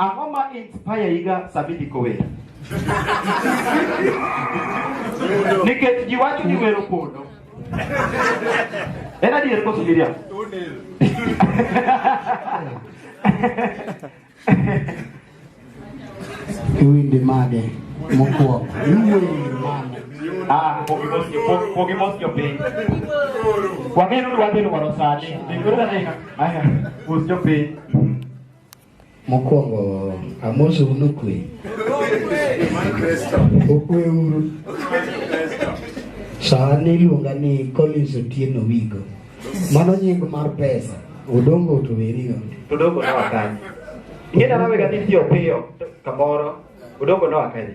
Ang'o ma inspire iga sama idhi kower? Nikech ji wacho ni wero pondo. En adier koso Miriam? Iwinde made mokwongo. Iwinde made. Ah, pogi mos jopiny. Wang'eyo ni wadhi lwaro sani. Dikoro na ina. Aya, mos jopiny. Mokwongo amoso uno kwe. Okwe uru. Sani iluonga ni Collins Otieno Wigo. Mano nying mar pesa. Odongo otoweri onge. Odongo na wakani. Ingena nawe gati piyo piyo kamoro. Odongo na wakani.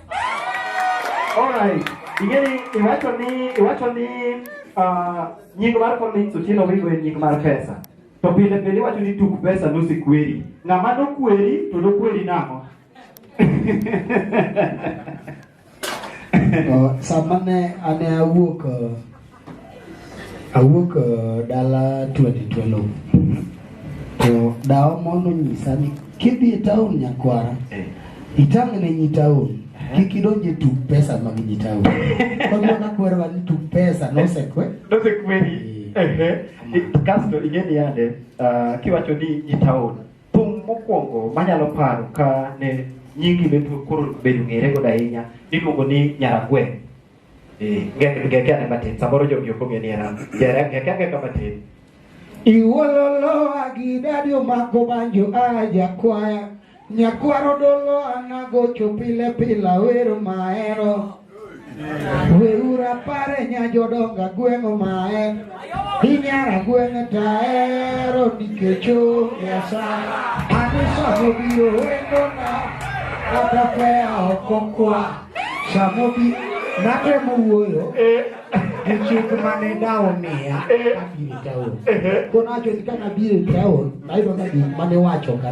Alright. Ingeni iwacho ni iwacho ni uh, nying mar Collins Otieno Wigo en nying mar pesa. To pile pile iwacho ni tuk pesa nosikweri. Ng'ama nokweri to nokweri nang'o? Uh, sama ne ane awuok uh, Awuok uh, dala 2012 to dawa mondo nyisa ni kidhi e taon nyakwara eh. itang' ne nyi taon kik idonje tuk pesa mag nyi taon kagwana kwerwa ni tuk pesa nosekwe nosekweri eh. kasto ing'eni yande uh, kiwacho ni nyi taon thum mokwongo manyalo paro ka ne nyingi bedo koro bedo ng'ere godo ahinya iluongo ni nyaragweng' ngeke ane matin samoro jogi ok ong'e ni en an jere ngeke angeka matin Iwololoa gi dadi omako banjo a jakwaya Nyakwaro dolo anagocho pile pila wero maero Weura pare nya jodonga gweng'o mae Inyara gweng'e taero nikech onge asara Anisomo biro wendona kata kwea ok okwa Samobi natemo wuoyo eh. gi chik mane dawo miya eh. kabiro e taon. Eh. Koro nawacho ni ka nabiro e taon, nayudo ka gik mane wacho ka,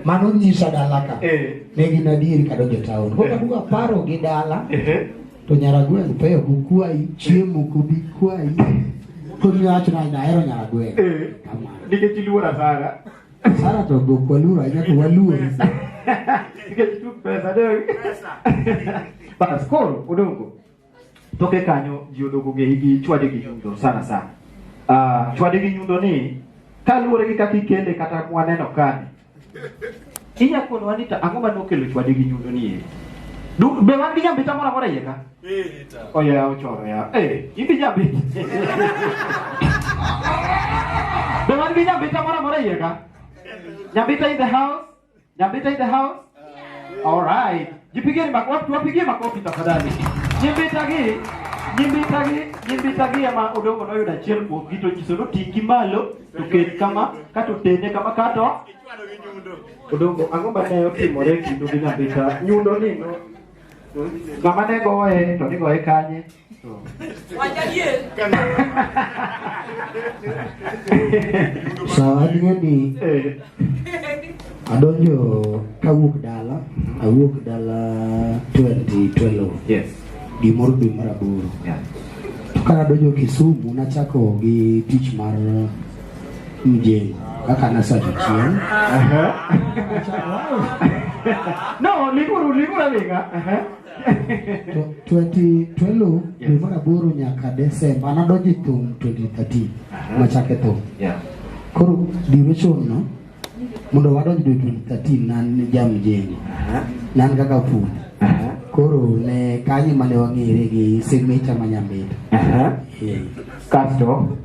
mano nyisa dala ka, ne gin adieri kadonjo e taon. Koro kaduogo aparo gi dala, to Nyaragweng' peyo kukwayi, chiemo kubi kwayi. Koro niwacho ni ahero Nyaragweng'. Nikech iluora sana. Sara to go kwa lura ya kwa lura. Kitu pesa dai. Pesa. Ba skoro udongo. Toke kanyo jiodogo nge higi chwade gi nyundo sana sana. Ah, uh, chwade gi nyundo ni kaluwore gi kaka ikele kata mwaneno kani. Inya kono wanita ang'o ma nokelo chwade gi nyundo ni? Be wan gi nyambita moro amora iye ka? Oya ochoro ya. Eh, idhi jabit. Be wan gi nyambita moro amora iye ka? Nyambita in the house? Nyambita in the house? All right. Jipigeni makofi, wapigie makofi tafadhali. Nyambita gi nyambita gi nyambita gi ama odongo noyudo achiel kuom gito nyiso no tingi malo to ket kama kato tene kama kato odongo ang'o ma ne otimore kindu gi nyambita nyundo ni no Ng'ama ne goye to ne goye kanye? Sawa ni adonjo kawuok dala awuok dala 2012 yes gimoro dwe mar aboro yeah. to ka adonjo Kisumu nachako gi tich mar mjeni kaka nasa jachien no liguru liguru alinga twelo dwe mar aboro nyaka desemba anadonjo e thum 2013 machake thum koro diro chon no mondo wadonj dwe 2013 nan jamjeni nan kaka fundi koro ne kanyo mane wang'ere gi semeta ma nyamita kasto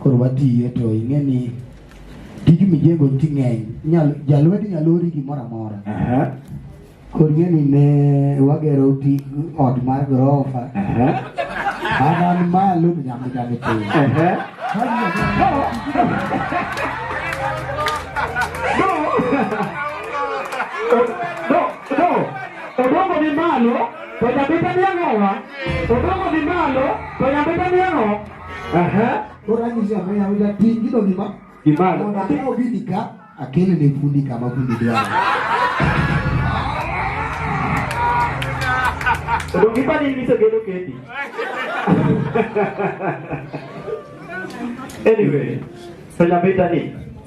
Koro watiye to ing'e ni tij mijengo nitie ng'eny. Nyal jalwedi nyalo ori gimoro amora. Aha. Koro ing'e ni ne wagero ti ot mar gorofa. Aha. An an malo to nyambi nyambi piny. Aha. No, no. Odongo ni malo, to nyabita ni ang'owa. Odongo ni malo, to nyabita ni ang'o. Aha. Koro anyiso ya maya wila ting gido gima. Gimana? Mondo atimo bidi ka akele ne fundi kama fundi dwaro. Odo gipa ni niso gedo kendi. Anyway, so nyabeta ni.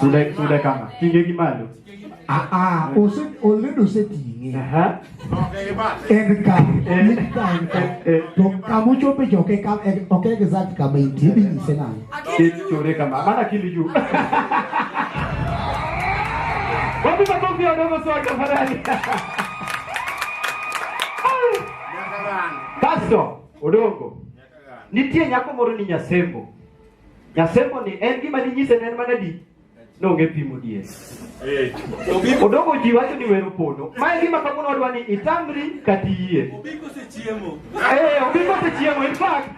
Sude sude kama. Tinge gi malo. Ah ah, ose already oseting'e. Aha. En ka, en ka, en ka. To kama ochope jo ke kama, ok exact kama intie bi nyise nang'o? Kichore kama. Maana kili juu. Wapi makofi wadogo sawa tafadhali. Pastor, odogo. Nitie nyako moro ni Nyasembo. Nyasemboni en gima dinyise ne en mana di nonge pimo dier. Odongo ji wacho ni wero pono. Ma en gima kawuono wadwa ni itamri kata iyie. Obiko osechiemo. Eh, obiko osechiemo in fact.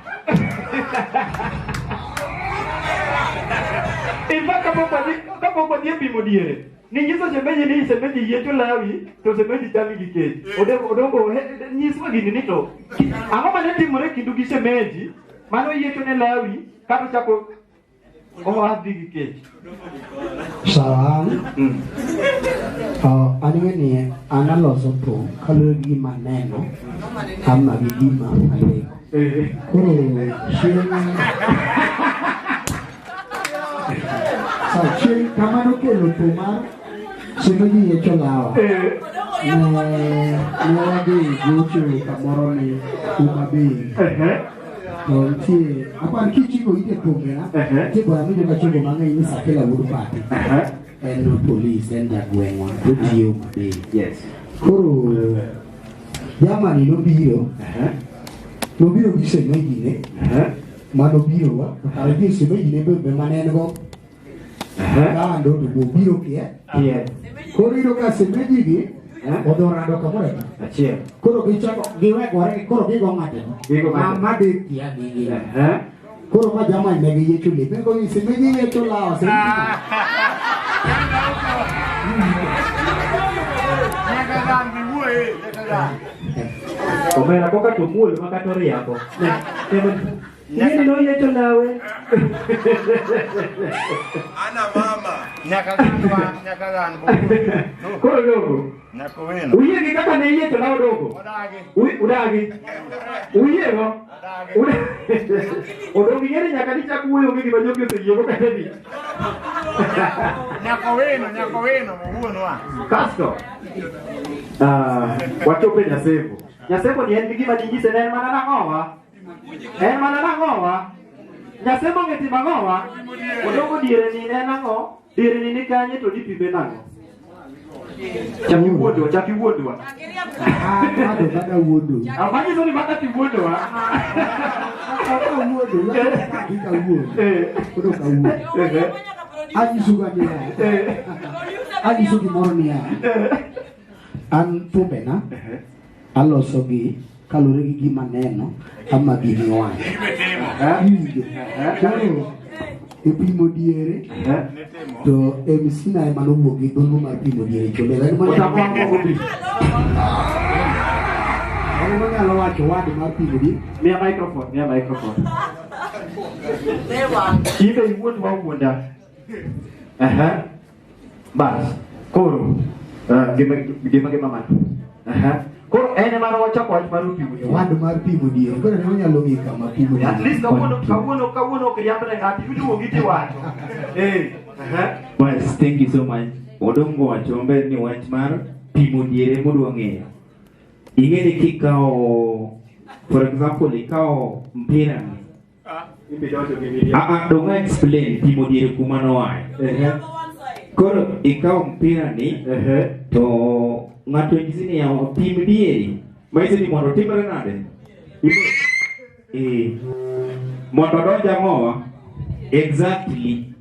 In fact kapok wadhi kapok wadhi e pimo diere. Ninyiso shemeji ni shemeji yiecho lawi to shemeji chami gi kech. Odongo odongo he- nyiswa gini ni to ang'o ma ne timore kindu gi shemeji Mano yiecho ne Lawi kata chako owadhi gi kech. Sawan. Mm. Uh, an ng'eni an aloso thum kaluwore gi gima aneno ama gi gima aleko. Eh. Koro chieng' Sachien kamano kelo tomar sino ji ye cholawa. Ne ne wadhi gocho kamoro ni Homa Bay. To nitie apar kichiko ite pongera nitie bwana mi joka chogo mang'eny ni Sakela wuod Pati. En polis en jagweng'wa to tiyo Homa Bay. Yes. Koro jamani nobiro nobiro gi semejine Mano biro wa, to kare ji osiepe ji ne be be mane en go. Kando to bo biro kie. Kie. Koro iyudo ka semeji gi Eh? odhi orado kamoro eka. Achiel. Koro gichako giwegore koro gigo ng'ate. Gigo ng'ate. Ma- Ma de tia gi gi. Eh? Koro ma jamani ne giyiecho lepe go ni semeji yiecho lawa semeji. Nyaka dhambi wuoye. Omera koka to muol ma kata oriambo. Nini no yeto nawe? Ana mama. Nyaka ganwa, nyaka ganwa. Koro dogo. Nyaka wena. Uye gi kaka ne yeto nawe dogo. Udagi. Udagi. Uye go. Odong' gi yeri nyaka dichak wuoyo onge gima jogi oseyiego kata ni. Nyako wino, nyako wino, wuonwa. Kasto, ah, wachopo e Nyaseko. Nyaseko ni en gi gima dinyise ne en mana nang'owa. En mana nang'owa. Nyaseko ong'e timo ang'owa. Odongo diere ni ne en ang'o? Irni ni kanye to nipime nang'o? Chak iwuondwa, chak iwuondwa. Ah, bado bada wuodo. Ah, manyiso ni bada tiwuondwa. Bada wuodo, bada wuodo. Eh. Kodo ka wuodo. Eh, eh. Anyiso ga niya. Eh. Anyiso gimoro niya. Eh. An thumbe na. Eh. Alosogi kaluwore gi gima neno ama gini wang'e. Epimo diere to MC na ema nowuok gi dholo mar pimo diere chole. Mano nyalo wacho wad mar pimo diere. Mia microphone, mia microphone. Ibe iwuot wawuonda. Aha. Bas, koro uh, gima gima gima man. Aha. Koro en ema nochako wach mar pimo diel. Wad mar pimo diel. Koro ne onyalo ng'e kama pimo diel. At least kawuono kawuono kawuono ok riamb ne ng'ato iduogo gi tiwacho. Eh. Aha. Bas, thank you so much. Odongo wacho maber ni wach mar pimo diel e modwa ng'eyo. Ing'e ni kikawo for example ikawo mpira ni Aa, donge a explain pimo diere kuma noaye. Koro ikawo mpira ni to ng'ato nyisi ni ya pim dieri. Maisi ni mondo timre nade? Eh. Mondo donja mowa. Exactly.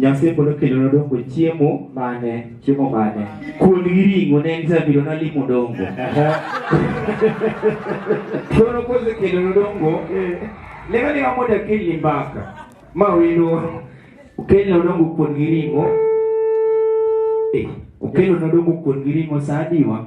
Nyasaye pod okelona dongo chiemo mane chiemo mane kuon gi ring'o ne en zabiro nalimo dongo koro kosekelona dongo lema lema mondo akelni mbaka ma wendo okelna dongo kuon gi ring'o eh, okelona dongo kuon gi ring'o sa adiwa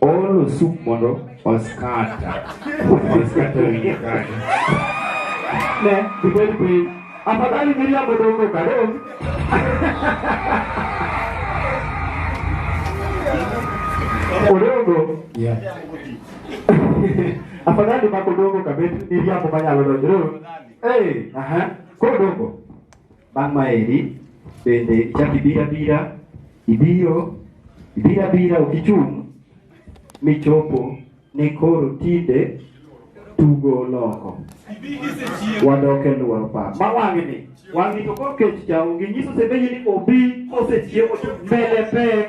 Olo sup mondo oskata. Oskata wiye kaka. Ne, kibel piny. Afadhali miriambo dongo kadong. Odongo. Yeah. Afadhali mako dongo kabet miriambo manyalo donjo. Eh, aha. Kodongo. Bang' maeri bende ichak ibiro abira, ibiro ibiro abira ok ichung' michopo ni koro tinde tugo oloko. Wadok e lworo pap. Ma wang'ni, wang'ni to koro kech cha onge nyiso sebeji ni obi kosechiewo to mbele pek.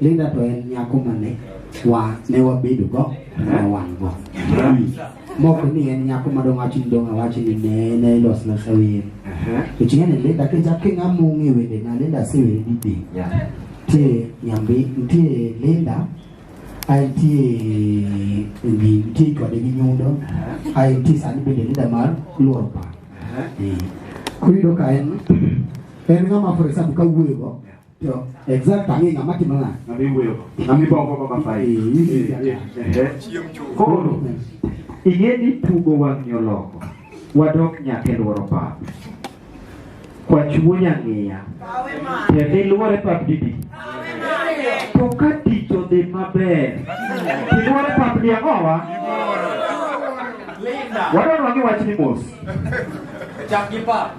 Linda to en nyako mane wa ne wabedo go ne wan go moko ni en nyako madong wacho ni dong awacho ni ne ne ilos losa wer to chieng' ni Linda kichak king'amo ng'e wende na Linda asewere ni be nitie nyambi nitie Linda ae nitie ngi nitie kode gi nyundo ae nitie sani bende Linda mar luoro pa koro iyudo ka en en ng'ama for example ka wuoyo go Yo, exact ang'e ng'ama timo nang'o. Ng'ama iwuoyo go. Ng'ama ibongo go kaka fai. Koro ing'e ni tugo wang'yo loko wadok nyaka e lworo pap. Kwachuonya ng'iya. Tiende ilwore pap didi. To ka tich odhi maber, ilwore pap di ang'owa? Wadwa nwangi wach ni mos. Chak gi pap.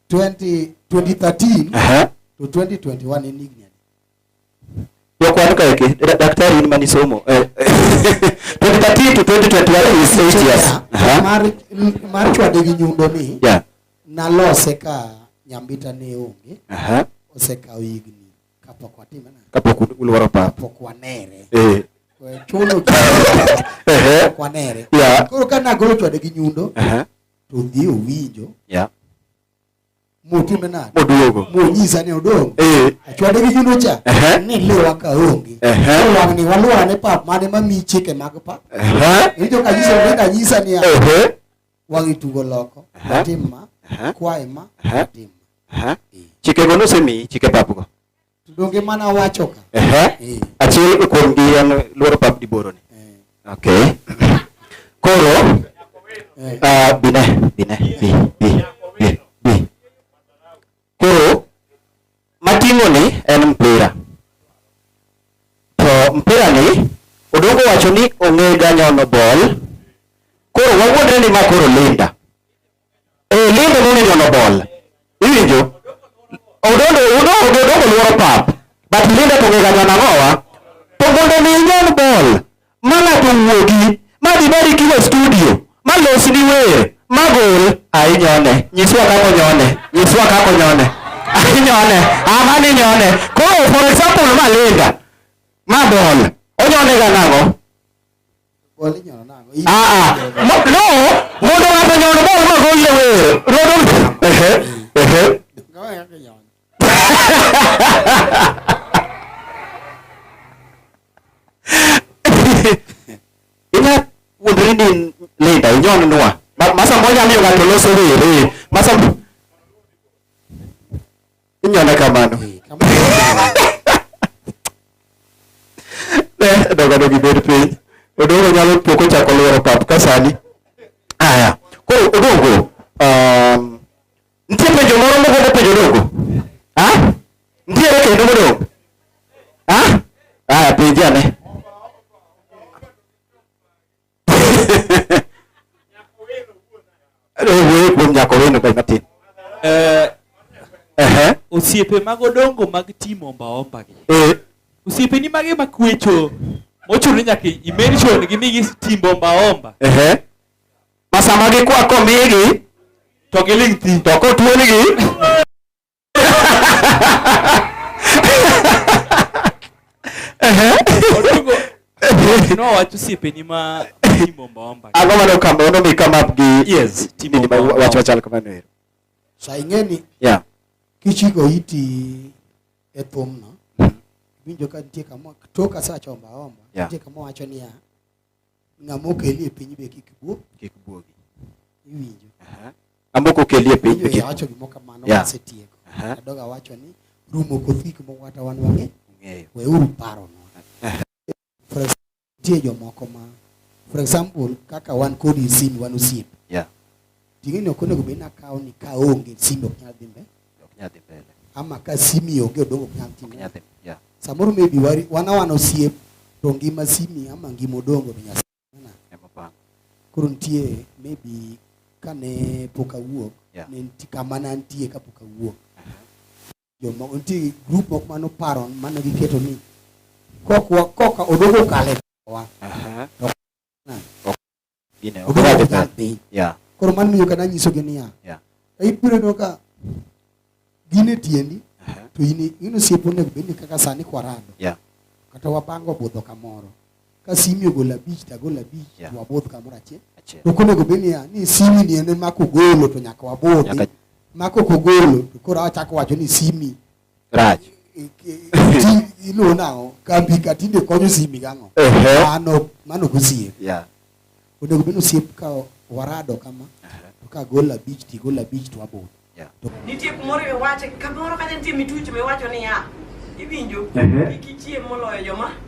20, 2013 Aha. to 2021 in Ignia. Kwa kuandika yake daktari ni mani somo. 2013 eh. to 2021 is 8 years. Aha. Mar mar chwa de nyundo ni. Yeah. Na lose ka nyambita ne onge. Aha. Oseka igni kapok watime na. Kapok ulwaro pa. Kapok wanere. Eh. Chulo. Kapok wanere. Yeah. Koro kana golo chwa de nyundo. Aha. to dhi owinjo yeah. motime nade moduogo monyisa ni odong eh. achwade gi juno cha uh -huh. ni liwa ka onge uh -huh. wang ni waluwa ne pap mane mami chike mag pap uh -huh. iwinjo ka nyiso ni kanyisa ni uh -huh. wang itugo loko uh -huh. tim ma uh -huh. kwae ma uh -huh. tim ma uh -huh. chike go nosemi chike pap go Donge mana wacho ka. Ehe. Achiel kuom gi en luoro bab di boro ni. Okay. Koro ah bine bine bi bi bi bi. Koro mating'o ni en mpira. To mpira ni odongo wacho ni ong'e ga nyono bol. Koro wawuondre ni ma koro Linda. Eh, lendo nene nyono bol. Iwinjo? Odondo udo odo odo luoro pap. But linda to ngega nyana ngowa. To mondo mi nyon bol. Mana to wuogi. Ma di bari kilo studio. Ma los ni wer. Ma gol. Ai nyone. Nyiswa kako nyone. Nyiswa kako nyone. Ai nyone. Ama ni nyone. Koro for example ma linda. Ma bol. Onyone ga nango. Ah, ah. no no mondo ng'ato nyono mo ma go ile we rodo ehe ehe ina wuodri ni linda inyon nwa masa moja miyo ng'ato loso rere masa Inyone kamano. Ne dogado gibed piny. Odongo nyalo pok ochako lworo pap ka sani. Aya. Koro Odongo, um, nitie penjo moro mogombo penjo Odongo? Ha? Nitiere kendo modong'? Ha? Aya, penje ane. Wuoyo kuom nyako wendo kae matin. Eh, Ehe. osiepe mag odongo mag timo ombaomba gi Eh, osiepe ni mage makwecho mochuno nyaka imention gi migi timbo ombaomba ehe. Ma sama gikwako migi to giling thi to kotuonigi Ang'o mane okamba mondo mi come up gi yes timo wach machal kamano ero. Sa ing'eni. Yeah. Kichiko iti e thumno. Winjo ka nitie kama tok asachomo omba. Nitie kama wacho niya. Ng'ama okeli e piny be kik buo. Kik buogi. Iwinjo. Ng'ama ok okeli e piny be kik. Awacho gimoro kamano yeah. wasetieko. Adogo awacho ni rumo koth gik moko kata wan wang'e. Ng'eyo. Weuru paro no. For example, tie jomoko ma for example kaka wan kodi simu wan osiepe. Yeah. Ting'eni ok onego bed nakawo ni ka onge simbe ok nyal dhi mbele. Ok nyal dhi mbele. Ama ka simi onge odongo ok nyal timo. Ok nyal dhi. Yeah. Samoro maybe wari wana wana osiep to ngima simi ama ngima odongo to nyasa. Ema bang. Koro nitie maybe kane pok awuok yeah. ne nitie kama ne antie ka pok awuok. Joma nitie group moko mano paro mane giketo ni koka odongo kale wa. Uh -huh. Gine, ok Obiro rach nyal piny. Yeah. Koro mano miyo kana nyisogi niya. Yeah. Ibiro neno ka gin e tiendi uh-huh. to in in osiepo onego bed ni kaka sani kwarado. Yeah. Kata wapango budho kamoro. Ka simi ogolo abich ta golo abich yeah. to wabudh kamoro achiel. Achiel. To konego bed ni ni simi ni en mako golo to nyaka wabudhi. Nyaka... Mako kogolo to koro achako wacho ni simi rach iluwo nang'o kambi ka tinde konyo simi gang'o mano mano gosiep onego bed osiep ka warado kama to ka gol abich ti gol abich to aboro nitie kumoro iwache kamoro kata nitie mituch miwacho niya iwinjo kik ichiem moloyo joma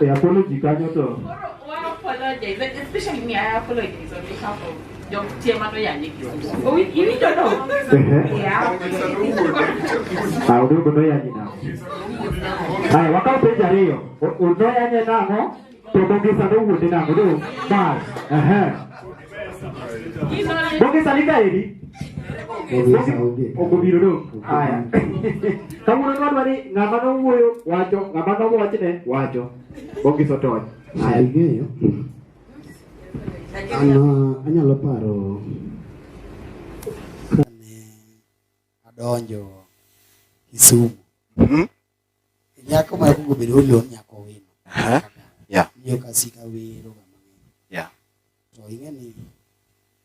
E apology kanyo to. Ah, udogo ndo yanyi nao. Haya, wakao penja riyo. Udo yanye namo, to bongisa ndo wude namo, do. Bas. Ehe. Bogesalika eri. Okubiro do. Aya. Kawuono nwadwa ni ng'ama nowuoyo wacho, ng'ama nowachne wacho. Bogiso tony. Aya. Ing'eyo? An uh, anyalo paro kane adonjo Kisumu. Nyako ma kuongo bedo olo nyako wino. Aha. Yeah. Yo kasika wero ga mang'eny. Yeah. To ing'e ni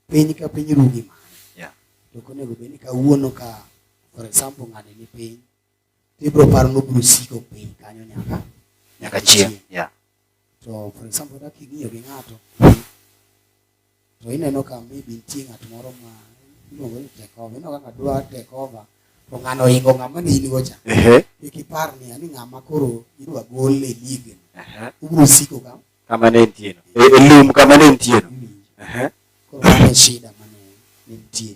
piny ka piny rugi ma. Yeah. To konego bed ni kawuono ka for example ng'ani ni piny to ibiro paro ni obiro siko piny kanyo nyaka nyaka chieng'. Yeah. To for example kaka ing'iyo gi ng'ato to ineno ka maybe nitie ng'at moro ma iluongo ni tekova ineno kaka dwa tekova to ng'ano oingo ng'ama ne in gocha kik ipar ni ani ng'ama koro idwa gol e lig ubiro siko ka kama ne nitie no e, e lum kama ne nitie no koro mano shida mane nitie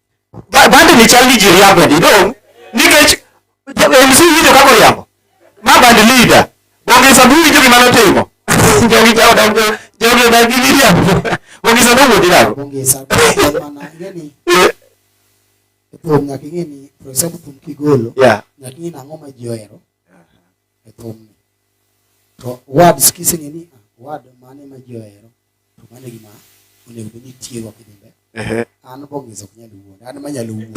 bandini chal ni ji riambo ni dong' nikech MC winjo kaka oriambo ma band leader Bonge Sabu winjo gima notimo jogi jawa dongo jogi odak gi miriambo Bonge Sabu wuodi nako Bonge Sabu mana ngeni thum nyaka ing'e ni for example thum kigolo nyaka ing'e ni ang'o ma ji ohero e thumni. To words kiseng'e ni ah, word mane ma ji ohero to mano gima onego bed ni tiego kidimbe. An bong'izo ok nyal wuond, an ma nyalo wuond.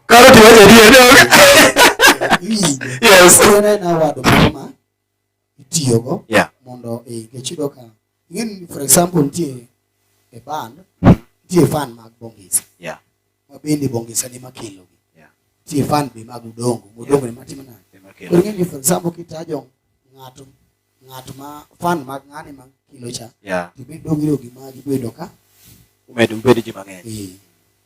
Karo tiwacho adier dong. Yes. Koro en award moro ma itiyogo yeah. mondo nikech iyudo ka ing'eni for example nitie e band hmm. nitie fan mag bongisa yeah. ma bende bongisa ni makelogi yeah. nitie fan be mag udongo udongo yeah. ni matimo nade koro ing'eni for example kitajo ng'ato ng'at ma fan mag ng'ani ma kilo cha yeah. to be dongiro gi magi bedo ka umedo bedo ji mang'eny yeah.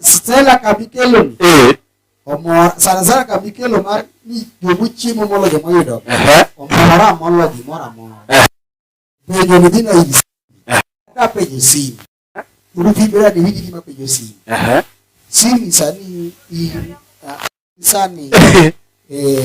Stella Kabikelo. Eh. Omor sana sana Kabikelo mar ni jomu chiemo molo joma yudo. Eh. Omora molo gimora moro. Eh. Penjo ni dina hivi. Eh. Ka penjo simu. Uruti bila ni hivi kima penjo simu. Eh. Simu sani i sani. Eh.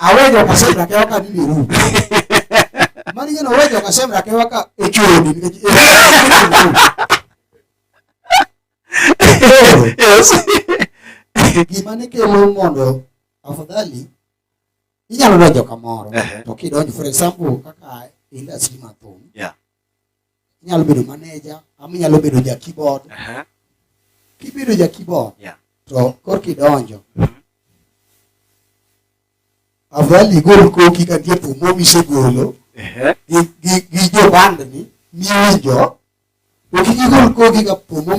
awejo kasemra ke waka ni biru mani gino awejo kasemra ke waka echoni nikech yes gima ne kelo mondo afadhali inyalo donjo kamoro to kidonjo for example kaka industry mathum yeah. inyalo bedo maneja ama inyalo bedo ja keyboard uh -huh. kibedo ja keyboard yeah. to kor kidonjo mm -hmm. afadhali igol koki ka nitie thum momisegolo uh -huh. gi, gi, gi jobandni miwinjo to kik igol koki ka thum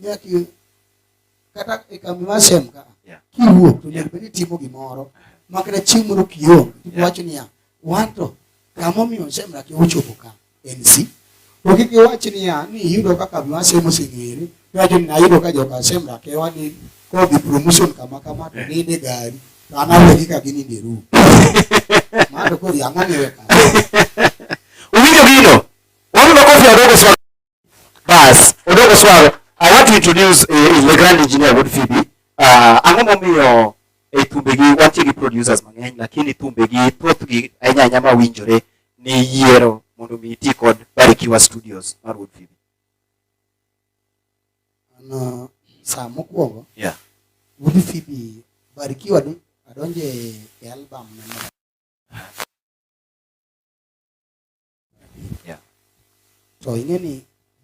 nyaki kata e kambi mar sem ka kiwuok to nyaka bed ni itimo gimoro ma kata chieng' moro kionge iwacho niya wan to kamomiyo semra ki ochopo ka en si to kik iwach niya ni iyudo ka kambi mar sem oseng'ere iwacho ni nayudo ka joka semra ke wani kodhi promotion kama kama to ninde gari to an awegi ka gininde e rum mano to koro yang'ani weka Owinjo gino? Wabiro kofi adogo sana. Bas, odoko swaro. I want to introduce uh, the grand engineer Wood Phoebe. Uh, ang'o momiyo e eh, thumbe gi wantie gi producers mang'eny lakini thumbe gi thoth gi ahinya ahinya ma winjore ni yiero mondo mi iti kod Barikiwa Studios mar Wood Phoebe. Ano saa mokwongo. Yeah. Wood Phoebe Barikiwa ni adonje e album na yeah. to ing'e ni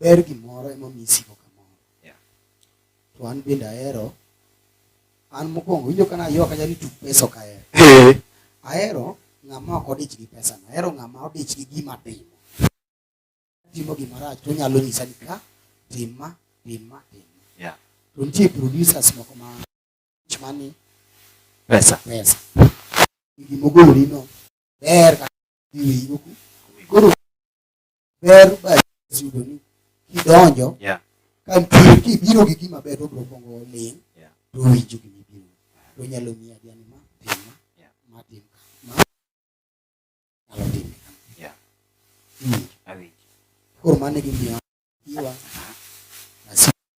ber gimoro ema mi isiko kamoro yeah. to an bende ahero an mokwongo winjo kana yo kanya ni tuk pesa ok ahero eh. ahero ng'ama ok odich gi pesa no ahero ng'ama odich gi gima timo timo gima rach to nyalo nyisa ni ka tima tima tima yeah. to nitie producers moko ma chmani pesa pesa gimogolorino ber iwinjoku koro ber bayudo ni kidonjo yeah. ka nitie kibiro gi gima ber obro kongo ling yeah. to winjo gima ibiro to nyalo miya jani ma tim ma yeah. ma tim ma nyalo tim yeah. mm. awinjo koro mane gimiyo iwa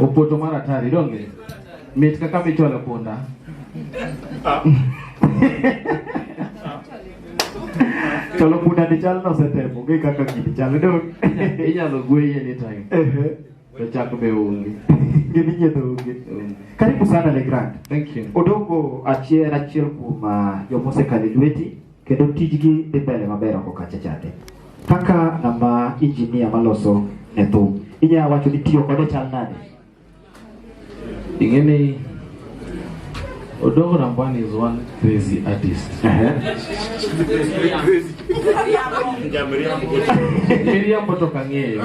Opoto mar atari donge mit kaka michwalo punda cholo punda ni chal nosetemo onge kaka gini chal dong inyalo gweye ni time to chak be onge gini nyiedho onge karibu sana le grand thank you odongo achiel achiel kuom ah, joma osekalo e lweti kendo tijgi dhi mbele maber oko kacha chande. Kaka ng'ama injinia maloso ne thum, inya wacho ni tiyo kode chal nade? Ing'e ni Odongo Ramban is one crazy artist. Miriambo to kang'eyo.